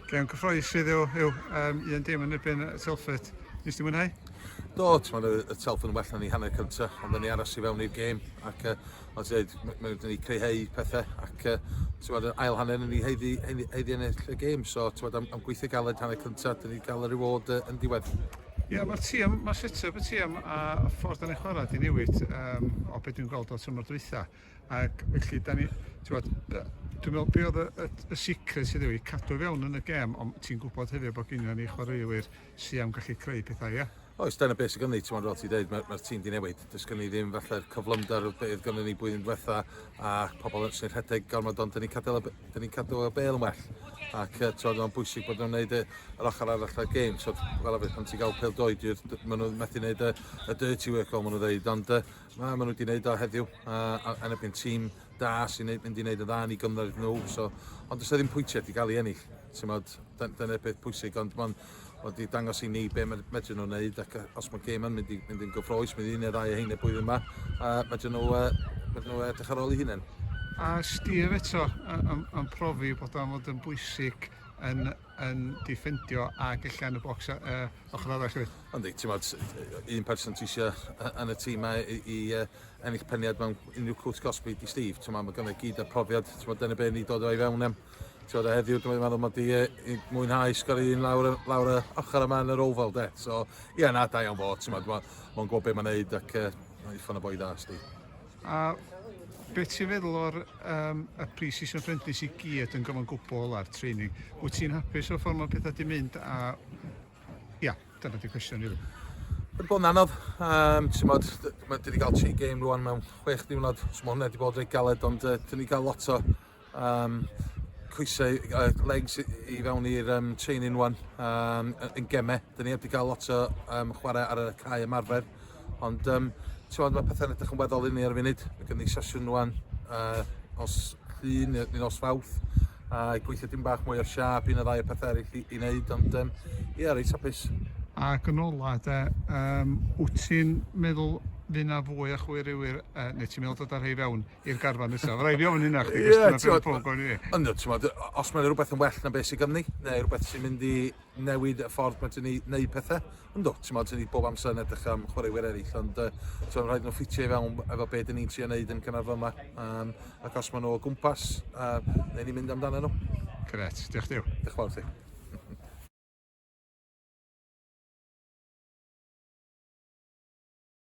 Gêm cyffroes sydd yw, yw um, un dim yn erbyn Telford. Nes ti mwynhau? Do, ti'n meddwl y Telford yn well na ni hanner cyntaf, ond ni aros i fewn i'r gêm. Ac, uh, ond ti'n dweud, mae wedi ni creihau pethau, ac uh, ti'n meddwl, ail hanner yn ni heiddi, heiddi, heiddi ennill y gêm. So, ti'n meddwl, am, am gweithio galed hanner cyntaf, dyn ni gael y reward uh, yn diwedd. Ie, yeah, mae'r tîm, mae'r set-up y tîm a ffordd yn ei chwarae di newid um, o beth dwi'n gweld o tymor dwytha. Ac felly, da ni, ti'n bod, dwi'n meddwl, be oedd y, y, y sicredd sydd wedi cadw fewn yn y gem, ond ti'n gwybod hefyd bod gennym ni chwaraewyr sy'n am gallu creu pethau, ia? Oes, dyna beth sydd gen i, ti'n meddwl, ti'n dweud, mae'r mae tîm di newid. Does gen i ddim falle'r cyflymder oedd beth gen ni blwyddyn diwetha a pobl yn sy'n rhedeg gormod ond dyn ni'n cadw, dyn ni cadw y bel yn well. Ac uh, ti'n meddwl, bwysig bod nhw'n gwneud yr ochr arall o'r gêm. So, fel arfer, pan ti'n cael pel doed, maen nhw'n methu gwneud y, y dirty work, fel maen nhw'n dweud, ond uh, Na, maen nhw wedi gwneud o heddiw, a, a, yn erbyn tîm da sy'n mynd i wneud y dda ni gymryd nhw. So, ond does ddim pwyntiau wedi cael ei ennill. Tymod, dyna'r peth pwysig, ond mae'n wedi dangos i ni be medru nhw wneud ac os mae gêm yn mynd, i, mynd i'n gyffroes, mynd i'n neu ddau o hyn y blwyddyn yma, a medru nhw, uh, medru nhw edrych ar ôl i hunain. A Steve eto yn, yn profi bod o'n fod yn bwysig yn yn diffendio a gella yn y bocs y ochr arall hefyd. Yndi, ti'n modd, un person ti eisiau yn y tîm mae i, i uh, ennill peniad mewn unrhyw cwt gosbi i Steve. Ti'n modd, mae gynnu gyd a profiad, ti'n modd, dyna be ni dod o'i fewn am. Ti'n modd, heddiw, dwi'n meddwl mod i i mwynhau sgor un lawr, lawr y ochr yma yn yr ofal, de. So, ie, yeah, na, da iawn fo, ti'n modd, mae'n gwybod beth mae'n neud ac uh, mae'n ffon y boi dda, Steve. A beth ti'n feddwl o'r um, y pre-season friendlies i gyd yn gyfan gwbl a'r training? Wyt ti'n hapus o'r ffordd mae pethau di mynd a... Ia, dyna di cwestiwn rili. Wedi bod yn anodd, um, ti'n modd, dwi wedi cael tri game rwan mewn chwech diwrnod, so mae hwnna wedi bod reit galed, ond uh, dyn ni cael lot o um, coesau, uh, legs i fewn i'r um, chain in one um, yn gemau. Dyn ni wedi cael lot o um, chwarae ar y cae ymarfer, ond um, ti'n meddwl, mae pethau'n edrych yn weddol inni ar y funud. Mae gen i sesiwn rwan uh, os llun neu os fawth, a uh, gweithio dim bach mwy o'r siap, un o ddau o pethau eraill i, i wneud, ond um, ie, yeah, reit hapus. Ac yn ola, de, um, wyt ti'n meddwl fydd na fwy o chwyr iwyr, uh, neu ti'n meddwl dod ar hei fewn? i'r garfan nesaf. Rhaid fi ofyn hynna chdi, Ie, cwestiwn ar t'mod, ben pob ni. Ond t'mod, os mae'n rhywbeth yn well na beth sydd ganddi, neu rhywbeth sy'n mynd i newid y ffordd mae ti'n ei wneud pethau, ynddo, ti'n ti'n ni bob amser yn edrych am chwaraewyr eraill, ond uh, ti'n rhaid nhw ffitio i fewn efo beth dyn ni'n trio wneud yn cynnar fyma, um, ac os maen nhw o gwmpas, uh, newn ni mynd amdano nhw. Gret, diolch diw. Diolch fawr ti.